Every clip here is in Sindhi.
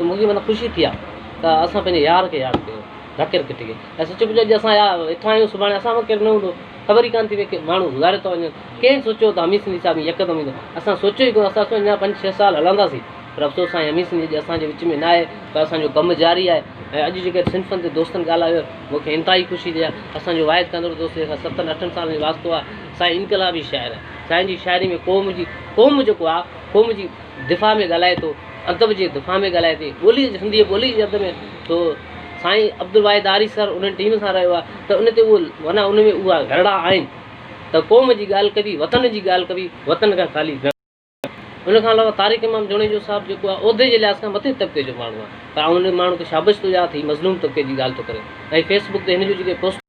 ته مون کي معنيٰ خوشي ٿي آهي ته اسان پنهنجي يار کي ياد ڪيو، ذاڪر ڪٽي کي. ۽ سچ پچ اڄ اسان اٿان آهيون، سڀاڻي اسان ۾ ڪير نه هوندو، خبر ئي ڪانه ٿي پئي، ماڻهو گذاري ٿا وڃن. ڪنهن سوچيو ته حميد سنڌي صاحب يڪدم ايندو؟ اسان سوچيو ئي ڪونه، اسان سوچيو اڃا پنج ڇهه سال هلنداسين، پر افسوس سائين حميد سنڌي اڄ اسان جي وچ ۾ ناهي، پر اسان جو ڪم جاري آهي. ۽ اڄ جيڪي صنفن تي دوستن ڳالهايو، مون کي انتهائي خوشي ٿي آهي. اسان جو واحد ڪندڙ دوست جنهن سان ستن اٺن سالن جو واسطو آهي، سائين انقلابي شاعر آهي. سائين جي شاعري ۾ قوم جي قوم جيڪو آهي، قوم جي. دفاع ۾ ڳالهائي ٿو، ادب جي دفاع ۾ ڳالهائي ٿي، ٻولي جي سنڌي ٻولي جي ادب ۾ ٿو، سائين عبدالواحد آري سر انهن ٽيم سان رهيو آهي ته ان تي اهو معنيٰ ان ۾ اها گهرڙا آهن ته قوم جي ڳالهه ڪبي، وطن جي ڳالهه ڪبي، وطن کان خالي نه ڪبي. ان کان علاوه طارق امام جوڻيجو صاحب جيڪو آهي عهدي جي لحاظ کان مٿئين طبقي جو ماڻهو آهي پر آئون ان ماڻهو کي شابش ٿو ڏيان ته هي مظلوم طبقي جي ڳالهه ٿو ڪري ۽ فيس بڪ تي هن جون جيڪي پوسٽون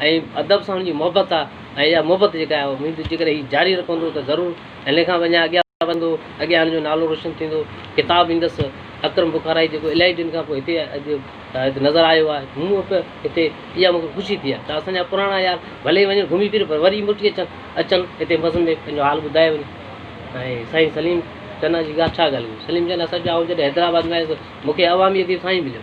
۽ ادب سان هن جي محبت آ ۽ اها محبت جيڪا آهي اها اميد جيڪڏهن هي جاري رکندو ته ضرور هن کان به اڃا اڳيان وڌندو اڳيان هن جو نالو روشن ٿيندو ڪتاب ايندس اڪرم بخارائي جيڪو الاهي ڏينهن کان پوء هتي اڄ هتي نظر آيو آهي مون به هتي اها مون کي خوشي ٿي آهي ته اسان جا پراڻا يار ڀلي ئي وڃن گهمي ڦري پر وري موٽي اچن اچن هتي بزم ۾ پنهنجو حال ٻڌائي وڃن ۽ سائين سليم چنا جي ڳالهه ڇا ڳالهه ڪجي سليم چنا سچ آئون جڏهن حيدرآباد ۾ آيس مون کي عوامي اديب سان ئي مليو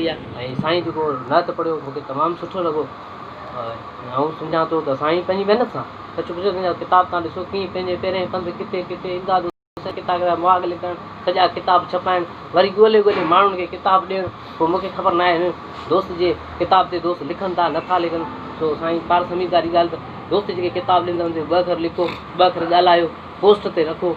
۽ سائين جيڪو نعت پڙهيو مون کي تمام سٺو لڳو ۽ آئون سمجهان ٿو ته سائين پنهنجي محنت سان سچ پچ سائين جا ڪتاب تان ڏسو ڪيئن پنهنجي پيرين پنڌ ڪٿي ڪٿي امداد حسين سائين ڪتاب جا مهاڳ لکڻ سڄا ڪتاب ڇپائڻ وري ڳولي ڳولي ماڻهن کي ڪتاب ڏيڻ پوء مون کي خبر ناهي هن دوست جي ڪتاب تي دوست لکن ٿا نه ٿا لکن سو سائين پارس حميد ڪاري ڳالهه ته دوست جيڪي ڪتاب ڏيندا آهن ان تي ٻه اکر لکو ٻه اکر ڳالهايو پوسٽ تي رکو